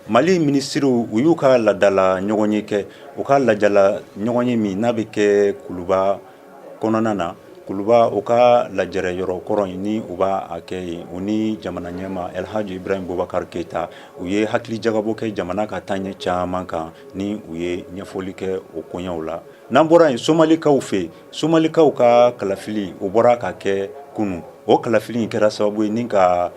Mali minisiriw u y'u ka ladala ɲɔgɔnye kɛ u ka lajala ɲɔgɔnye min n'a bɛ kɛ kuluba kɔnɔna na kuluba u ka lajɛrɛ yɔrɔ kɔrɔ in ni u b'a kɛ yen u ni jamana ɲɛmaa Elihaji Ibrahim Bubakari Keyita u ye hakilijagabɔ kɛ jamana ka taaɲɛ caman kan ni u ye ɲɛfɔli kɛ o koɲɛw la n'an bɔra yen somalikaw fɛ yen Somalikaw ka kalafili o bɔra ka kɛ kunun o kalafili in kɛra sababu ye ni ka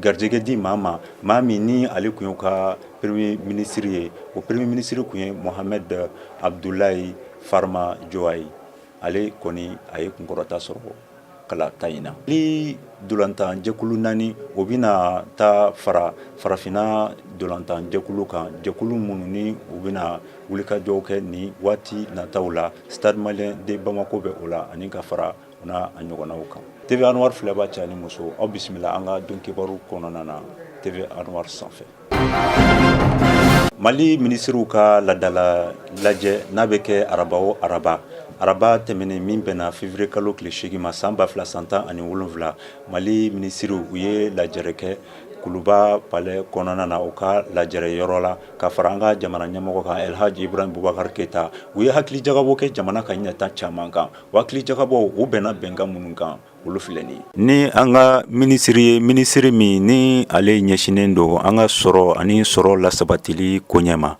garijɛgɛ di maa ma maa min ni ale tun y'u ka peremiye minisiri ye o peremiye minisiri tun ye Mohamɛdi Abudulayi Farimajo ye ale kɔni a ye kunkɔrɔta sɔrɔ kalata in na ni dolantanjɛkulu naani o bɛna taa fara farafinna dolantanjɛkulu kan jɛkulu minnu ni u bɛna wulikajɔw kɛ nin waati nataw la Stade Malien de Bamako bɛ o la ani ka fara u n'a ɲɔgɔnnaw kan TV Anwar filɛbaa cɛ ani muso aw bisimila an ka don kibaru kɔnɔna na TV Anwar sanfɛ Mali minisiriw ka ladala lajɛ n'a bɛ kɛ araba o araba araba tɛmɛnen min bɛnna feviriye kalo tile seegin ma san ba fila san tan ani wolonwula mali minisiriw u ye lajɛrɛ kɛ kuluba palɛ kɔnɔna na u ka lajɛrɛ yɔrɔ la ka fara an ka jamana ɲɛmɔgɔ kan Elihaji Ibrahim Bubakari Keyita u ye hakilijakabɔ kɛ jamana ka ɲɛtaa caman kan o hakilijakabɔ u bɛnna bɛnkan minnu kan olu filɛ nin ye ni an ka minisiri ye minisiri min ni ale ɲɛsinnen don an ka sɔrɔ ani sɔrɔ lasabatili koɲɛ ma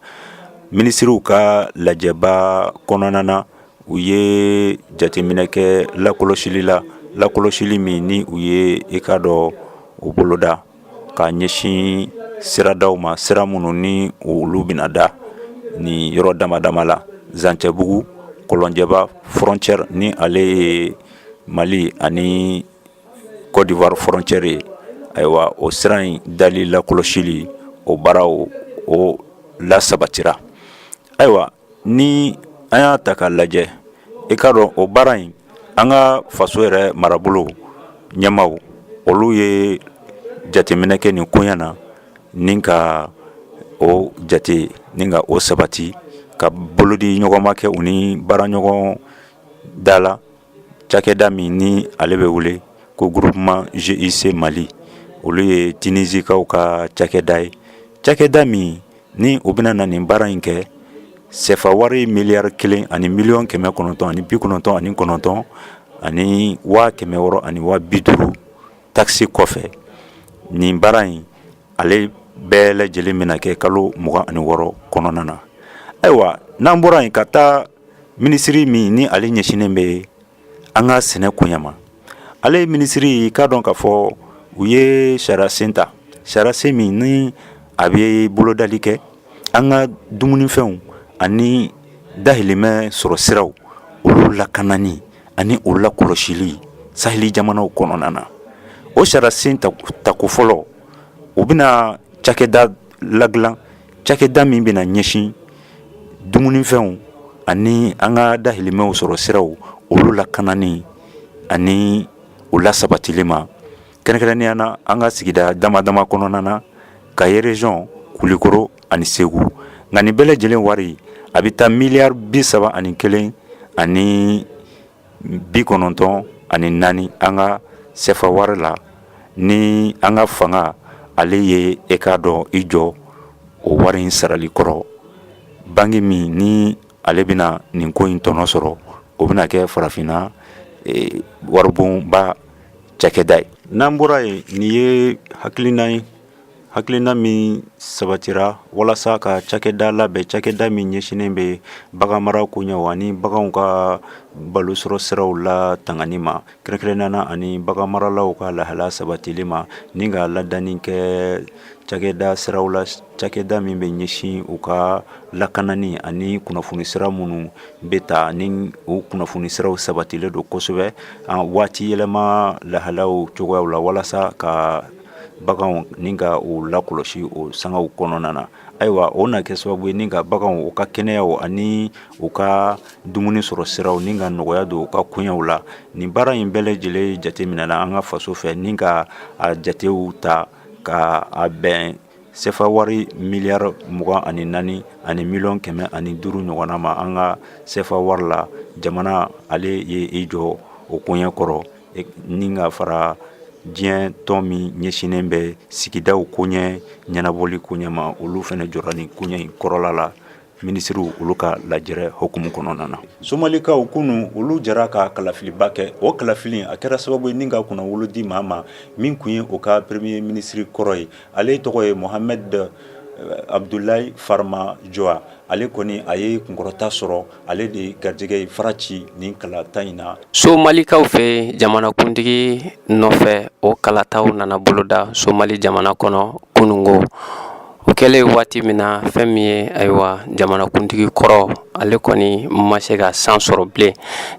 minisiriw ka lajɛba kɔnɔna na u ye jateminɛ kɛ lakɔlɔsili la lakɔlɔsili min ni u ye i k'a dɔn o boloda ka ɲɛsin siradaw ma sira minnu ni olu bɛna da ni yɔrɔ dama dama la zancɛbugu kɔlɔnjɛba frontière ni ale ye mali ani Kɔdiwari frontière ye ayiwa o sira in dali lakɔlɔsili o baaraw o lasabatira ayiwa ni an y'a ta k'a lajɛ i k'a dɔn o baara in an ka faso yɛrɛ marabolo ɲɛmaaw olu ye jateminɛ kɛ nin koɲɛ na ni ka o jate ni ka o sabati ka bolodiɲɔgɔnma kɛ u ni baaraɲɔgɔn da la cakɛda min ni ale bɛ wele ko groupement GIC Mali olu ye Tinisikaw ka cakɛda ye, cakɛda min ni o bɛna na nin baara in kɛ sɛfa wari miliyari kelen ani miliyɔn kɛmɛ kɔnɔntɔn ani bi kɔnɔntɔn ani kɔnɔntɔn ani waa kɛmɛ wɔɔrɔ ani waa bi duuru taxe kɔfɛ nin baara in ale bɛɛ lajɛlen bɛna kɛ kalo mugan ani wɔɔrɔ kɔnɔna na ayiwa n'an bɔra yen ka taa minisiri min ni ale ɲɛsinnen bɛ an ka sɛnɛ koɲɛ ma ale ye minisiri k'a dɔn k'a fɔ u ye sariyasen ta sariyasen min ni a bɛ bolodali kɛ an ka dumunifɛnw ani dahirimɛ sɔrɔ siraw olu lakanani ani o lakɔlɔsili saheli jamanaw kɔnɔna na o sariyasen tako fɔlɔ u bɛna cakɛda ladilan cakɛda min bɛna ɲɛsin dumunifɛnw ani an ka dahirimɛw sɔrɔ siraw olu lakanani ani o lasabatili ma kɛrɛnkɛrɛnnenya na an ka sigida dama dama kɔnɔna na kayi rezɔn kulikoro ani segu nka nin bɛɛ lajɛlen wari a bɛ taa miliyari bi saba ani kelen ani bi kɔnɔntɔn ani naani an ka sefa wari la ni an ka fanga ale ye e k'a dɔn i jɔ o wari in sarali kɔrɔ banki min ni ale bɛna nin ko in tɔnɔ sɔrɔ o bɛna kɛ farafinna e, waribonba cakɛda ye n'an bɔra yen nin ye hakilina ye hakilina min sabatira walasa ka cakɛda labɛn cakɛda min ɲɛsinnen bɛ bagan mara koɲɛw ani baganw ka balo sɔrɔ siraw latangani ma kɛrɛnkɛrɛnnenya na ani bagan maralaw ka lahala sabatili ma ni ka ladanin kɛ cakɛda siraw la cakɛda min bɛ ɲɛsin u ka lakanani ani kunnafoni sira minnu bɛ taa ni u kunnafoni siraw sabatilen don kosɛbɛ waati yɛlɛma lahalaw cogoya la walasa ka Baganw ni ka u lakɔlɔsi o sangaw kɔnɔna na ayiwa o na kɛ sababu ye ni ka baganw u ka kɛnɛyaw ani u ka dumuni sɔrɔ siraw ni ka nɔgɔya don u ka koɲɛw la nin baara in bɛɛ lajɛlen jateminɛ na an ka faso fɛ ni ka a jatew ta ka a bɛn sefa wari miliyari mugan ani naani ani miliyɔn kɛmɛ ani duuru ɲɔgɔnna ma an ka sefa wari la jamana ale ye i jɔ o koɲɛ kɔrɔ ni ka fara diɲɛ tɔn min ɲɛsinnen bɛ sigidaw koɲɛ ɲɛnabɔli koɲɛ ma olu fɛnɛ jɔra nin koɲɛ in kɔrɔla la minisiriw olu ka lajɛrɛ hukumu kɔnɔna na somalikaw kunun olu jɛra ka kalafiliba kɛ o kalafili a kɛra sababu ye ni ka kunnawolo di maa ma min kun ye o ka peremiye minisiri kɔrɔ ye ale tɔgɔ ye mohamɛdi abudulayi farimajo ale kɔni a ye kunkɔrɔta sɔrɔ ale de garijɛgɛ ye fara ci nin kalata in na somalikaw fɛ jamanakuntigi nɔfɛ o kalataw nana boloda somali jamana kɔnɔ kununko o kɛlen ye waati min na fɛn min ye ayiwa jamanakuntigi kɔrɔ ale kɔni ma se ka san sɔrɔ bilen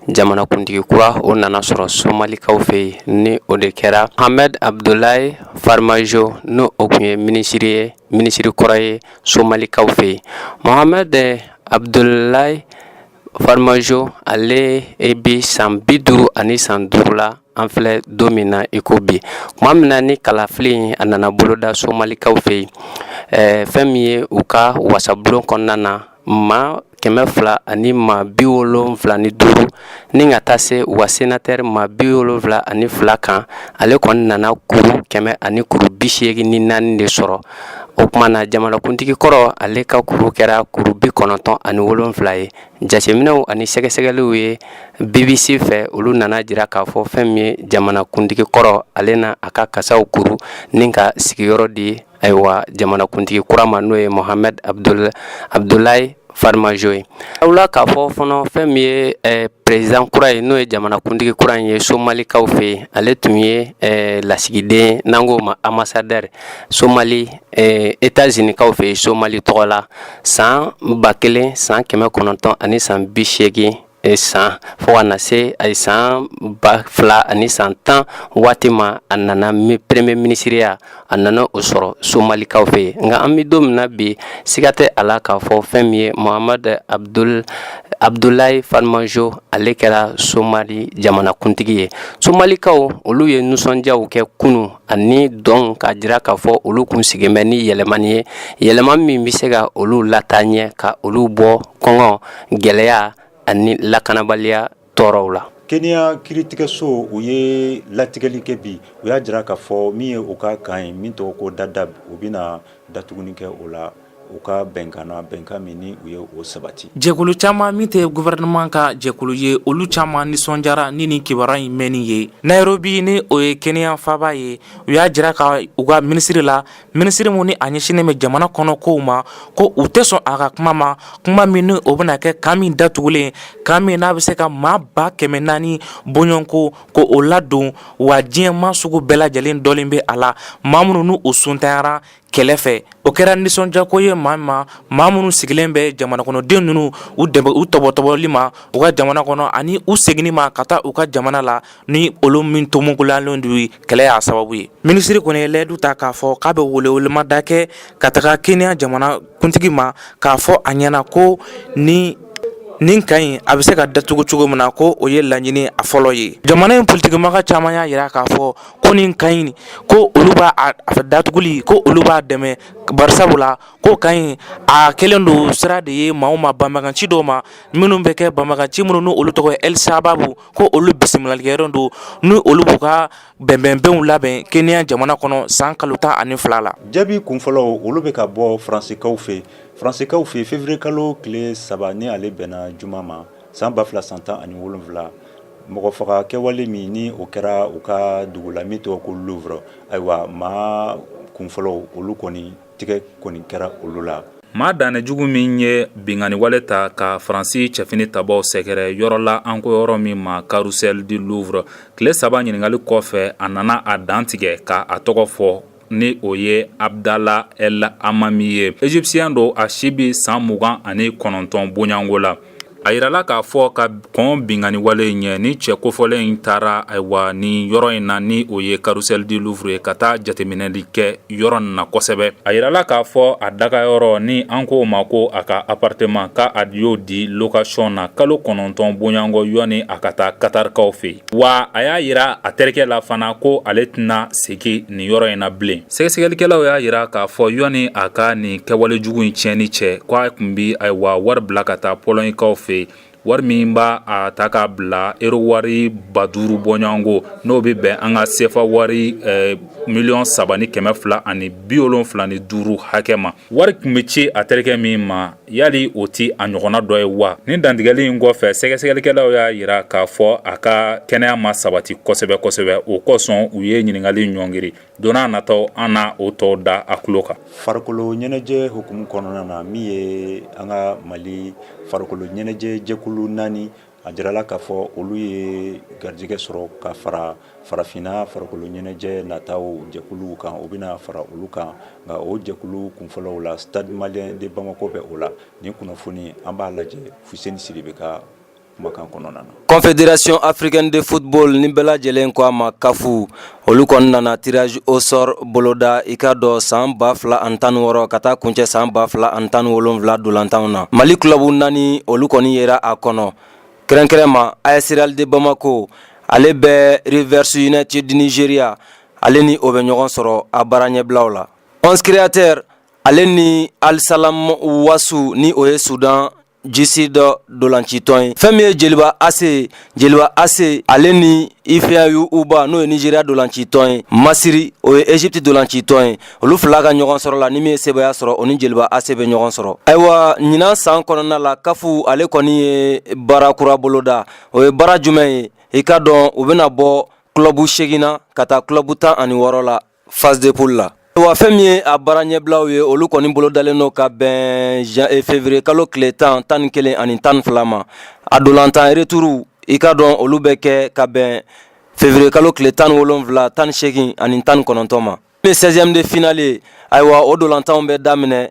jamanakuntigi kura o nana sɔrɔ somalikaw fɛ yen ni o de kɛra mohamɛdi abudulayi farimajo n'o kun ye minisiri kɔrɔ ye somalikaw fɛ yen mohamɛdi abudulayi farimajo ale e bi san bi duuru ani san duuru la an filɛ don min na i ko bi kuma min na ni kalafili in a nana boloda somalikaw fɛ yen eh, fɛn min ye u ka wasabulon kɔnɔna na ma kɛmɛ fila ani ma bi wolonfila ni duuru ni ka taa se u ka senatɛri ma bi wolonfila ani fila kan ale kɔni nana kuru kɛmɛ ani kuru bi seegin ni naani de sɔrɔ o kuma na jamanakuntigi kɔrɔ ale ka kuru kɛra kuru bi kɔnɔntɔn ani wolonfila ye jateminɛw ani sɛgɛsɛgɛliw ye bbc fɛ olu nana jira k'a fɔ fɛn min ye jamanakuntigi kɔrɔ ale na a ka kasaw kuru ni ka sigiyɔrɔ di ayiwa jamanakuntigi kura ma n'o ye mohamadu abudula abudulayi farimajo ye aw la k'a fɔ fana fɛn min ye eh, perezidan kura ye n'o ye jamanakuntigi kura in ye somalikaw fɛ yen ale tun ye eh, lasigiden n'an k'o ma anbasadɛri somali eh, etazunikaw fɛ yen somali tɔgɔ la san ba kelen san kɛmɛ kɔnɔntɔn ani san bi seegin E san fo ka na se a ye san ba fila ani san tan waati ma a nana peremiye minisiriya a nana o sɔrɔ somalikaw fɛ yen nka an bɛ don min na bi siga tɛ a la k'a fɔ fɛn min ye mohamadu abudu abudulayi farimajo ale kɛra somali jamanakuntigi ye somalikaw olu ye nisɔndiyaw kɛ kunun ani dɔn k'a jira k'a fɔ olu kun sigilen bɛ ni yɛlɛmani ye yɛlɛma min bɛ se ka olu lataa ɲɛ ka olu bɔ kɔngɔ gɛlɛya ani lakanabaliya tɔɔrɔw la keniya kiiritigɛso u ye latigɛli kɛ bi u y'a jira k'a fɔ min ye u ka kan ye min tɔgɔ ko dadaab u bɛna datuguni kɛ o la u ka bɛnkan bɛnkan min u ye o sabati jɛkulu caman min tɛ gɔfɛrɛnaman ka jɛkulu ye olu caman nisɔndiyara ni nin kibaruya in mɛnni ye nayirobi ni o ye keniya faaba ye u y'a jira ka u ka minisiri la minisiri min ni a ɲɛsinnen bɛ jamana kɔnɔ kow ma ko u tɛ sɔn a ka kuma ma kuma min ni o bɛna kɛ kan min datugulen kan min n'a bɛ se ka maa ba kɛmɛ naani bɔɲɔgɔnko ko o ladon wa diɲɛ maa sugu bɛɛ lajɛlen donnen bɛ a la ma minnu n'u sontanyara kɛlɛ fɛ o kɛra nisɔndiyako ye maa ma maa minnu sigilen bɛ jamanakɔnɔden ninnu u dɛmɛ u tɔbɔtɔbɔli ma u ka jamana kɔnɔ ani u seginni ma ka taa u ka jamana la ni olu min tomuguyalen don kɛlɛ y'a sababu ye minisiri kɔni ye layidu ta k'a fɔ k'a bɛ welewelemada kɛ ka taga keniya jamanakuntigi ma k'a fɔ a ɲɛna ko ni nin kan in a bɛ se ka datugu cogo min na ko o ye laɲini a fɔlɔ ye jamana in politikimaga caman y'a jira k'a fɔ ko nin kan in ko olu b'a datuguli ko olu b'a dɛmɛ bari sabu la ko kan in a kɛlen don sira de ye maaw ma banbaganci dɔw ma minnu bɛ kɛ banbaganci minnu n' olu tɔgɔ ye el sababu ko olu bisimilalikɛyɔrɔ don ni olu b'u ka bɛnbɛnbɛnw labɛn kenya jamana kɔnɔ san kalo tan ani fila la jaabi kunfɔlɔ olu bɛ ka bɔ faransikaw fɛ faransikaw fɛ février kalo tile saba ni ale bɛnna juma ma san ba fila san tan ani wolonwula mɔgɔ faga kɛwale min ni o kɛra u ka dugu la min tɔgɔ ko louvre ayiwa maa kunfɔlɔ olu kɔni tɛgɛ kɔni kɛra olu la maa dannen jugu min ye binkanni wale ta ka faransi cɛfini tabaaw sɛgɛrɛ yɔrɔ la an ko yɔrɔ min ma carrousel du louvre tile saba ɲininkali kɔfɛ a nana a dantigɛ k' a tɔgɔ fɔ ni o ye abudala el amami ye égyptien don a si bɛ san mugan ani kɔnɔntɔn bɔɲɔgɔnko la a jirala k'a fɔ ka kɔn binkanni wale in ɲɛ ni cɛ kofɔlen in taara ayiwa ni yɔrɔ in na ni o ye carrousel du louvre ye ka taa jateminɛli kɛ yɔrɔ in na kosɛbɛ a jirala k'a fɔ a dagayɔrɔ ni an k'o ma ko a ka appartement k' a y'o di location na kalo kɔnɔntɔn bɔɲɔgɔnko yɔni a ka taa katarikaw fɛ yen wa a y'a yira a terikɛ la fana ko ale tɛna segin nin yɔrɔ in na bilen sɛgɛsɛgɛlikɛlaw y'a yira k'a fɔ yɔni a ka nin kɛwale jugu in tiɲɛni cɛ ko a tun bi ayiwa wari bila ka taa pɔlɔɲikaw fɛ wari min b'a a ta k'a bila ero wari ba duuru bɔɲɔgɔnko n'o bɛ bɛn an ka sefa wari miliyɔn saba ni kɛmɛ fila ani biwolonwula ni duuru hakɛ ma Wari tun bɛ ci a terikɛ min ma yali o tɛ a ɲɔgɔnna dɔ ye wa ni dantigɛli in kɔfɛ sɛgɛsɛgɛlikɛlaw y'a jira k'a fɔ a ka kɛnɛya ma sabati kosɛbɛ kosɛbɛ o kosɔn u ye ɲininkali ɲɔngiri don nataw an na o tɔw da a tulo kan farikolo ɲɛnajɛ hukumu kɔnɔna na min ye an ka mali farikolo ɲɛnajɛ jɛkulu naani A jirala k'a fɔ olu ye garijɛgɛ sɔrɔ ka fara farafinna farikolo ɲɛnajɛ nataw jɛkuluw kan u bɛna fara olu kan nka o jɛkulu kunfɔlɔw la stade malien de bamako bɛ o la ni kunnafoni an b'a lajɛ fuseni sidibe ka kumakan kɔnɔna na confédération africaine de football ni bɛɛ lajɛlen ko a ma kafu Olu kɔni nana tirage au sort boloda i ka dɔn san ba fila an tan wɔɔrɔ ka taa kuncɛ san ba fila an tan wolonwula dolantanw na mali club naani olu kɔni yera a kɔnɔ kɛrɛnkɛrɛnma as real de bamakɔ ale bɛ rivers united du nigeria ale ni o bɛ ɲɔgɔn sɔrɔ a baara ɲɛbilaw la onze créateurs ale ni al salam wasu ni o ye sudan du sud dolancitɔn ye fɛn min ye jeliba ase ye jeliba ase ale ni ifeanyi uba n'o ye nijeriya dolancitɔn ye masiri o ye ezipti dolancitɔn ye olu fila ka ɲɔgɔn sɔrɔ la ni min ye sebaaya sɔrɔ o ni jeliba ase bɛ ɲɔgɔn sɔrɔ ayiwa ɲinan san kɔnɔna la kafu ale kɔni ye baara kura boloda o ye baara jumɛn ye i k'a dɔn u bɛna bɔ club segin na ka taa club tan ani wɔɔrɔ la phase de poule la wa fɛn min ye a baara ɲɛbilaw ye olu kɔni bolo dalen don ka bɛn eh, fevrier kalo tile tan tan ni kelen ani tan ni fila ma a dolantan retour i k'a dɔn olu bɛ kɛ ka bɛn fevrier kalo tile tan ni wolonfila tan ni seegin ani tan ni kɔnɔntɔn ma min ye 16e de finale ye ayiwa o dolantanw bɛ daminɛ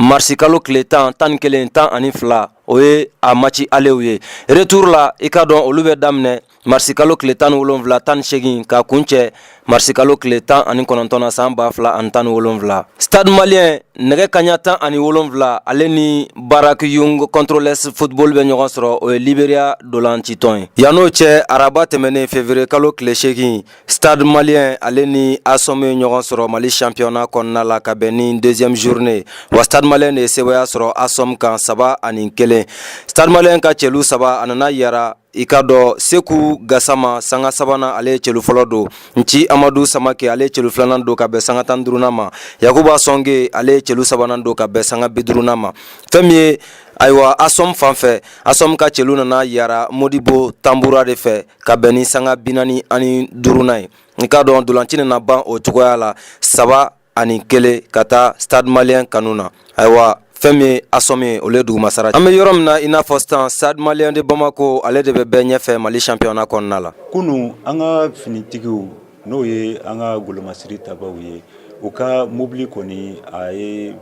marisikalo tile tan tan ni kelen tan ani fila o ye a maci alew ye retour la i k'a dɔn olu bɛ daminɛ marisikalo tile tan ni wolonwula tan ni segin ka kuncɛ marisikalo tile tan ani kɔnɔntɔn na san ba fila ani tan ni wolonwula stade malien nɛgɛ kaɲa tan ani wolonwula ale ni barrack young controllers football bɛ ɲɔgɔn sɔrɔ o ye liberia dolancitɔn ye yann'o cɛ araba tɛmɛnen fevrier kalo tile segin Stade malien ale ni Asom ye ɲɔgɔn sɔrɔ Mali championnat kɔnɔna la ka bɛn ni deuxième journée wa Stade malien de ye sebaaya sɔrɔ Asom kan saba ani kelen Stade malien ka celu saba a nana yara i k'a dɔn Seku Gasama sanga sabanan ale ye celu fɔlɔ don Nci Amadu Samake ale ye celu filanan don ka bɛn sanga tan duurunan ma Yakuba Sɔnge ale ye celu sabanan don ka bɛn sanga bi duurunan ma fɛn min ye ayiwa Asom fan fɛ Asom ka celu nana yara Modibo Tanbura de fɛ ka bɛn ni sanga binani ani duurunan ye i k'a dɔn dolanci nana ban o cogoya la saba ani kelen ka taa stade malien kanu na ayiwa fɛn min ye asom ye olu dugumasara an bɛ yɔrɔ min na i n'a fɔ sisan stade malien de bamako ale de bɛ bɛɛ ɲɛfɛ mali championnat kɔnɔna la kunu an ka finitigiw N'o ye an ka golomasiri tabaw ye u ka mobili kɔni a ye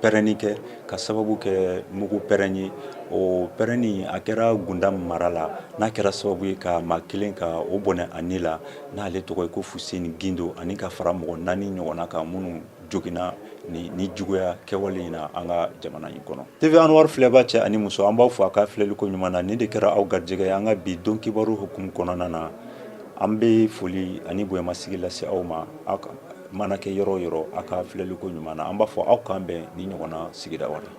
pɛrɛnni kɛ ka sababu kɛ mugu pɛrɛn ye o pɛrɛnni a kɛra gunda mara la n'a kɛra sababu ye ka maa kelen ka o bɔnɛ a ni la n'ale tɔgɔ ye ko fuseni gindo ani ka fara mɔgɔ naani ɲɔgɔnna kan minnu jogina ni juguya kɛwale in na an ka jamana in kɔnɔ tv anwar filɛbaa cɛ ani muso an b'aw fo a ka filɛli ko ɲuman na nin de kɛra aw garijɛgɛ ye an ka bi don kibaru hukumu kɔnɔna na an bɛ foli ani bonyamasigi lase aw ma aw mana kɛ yɔrɔ o yɔrɔ aw ka filɛli ko ɲuman na an b'a fɔ aw k'an bɛn ni ɲɔgɔnna sigida wɛrɛ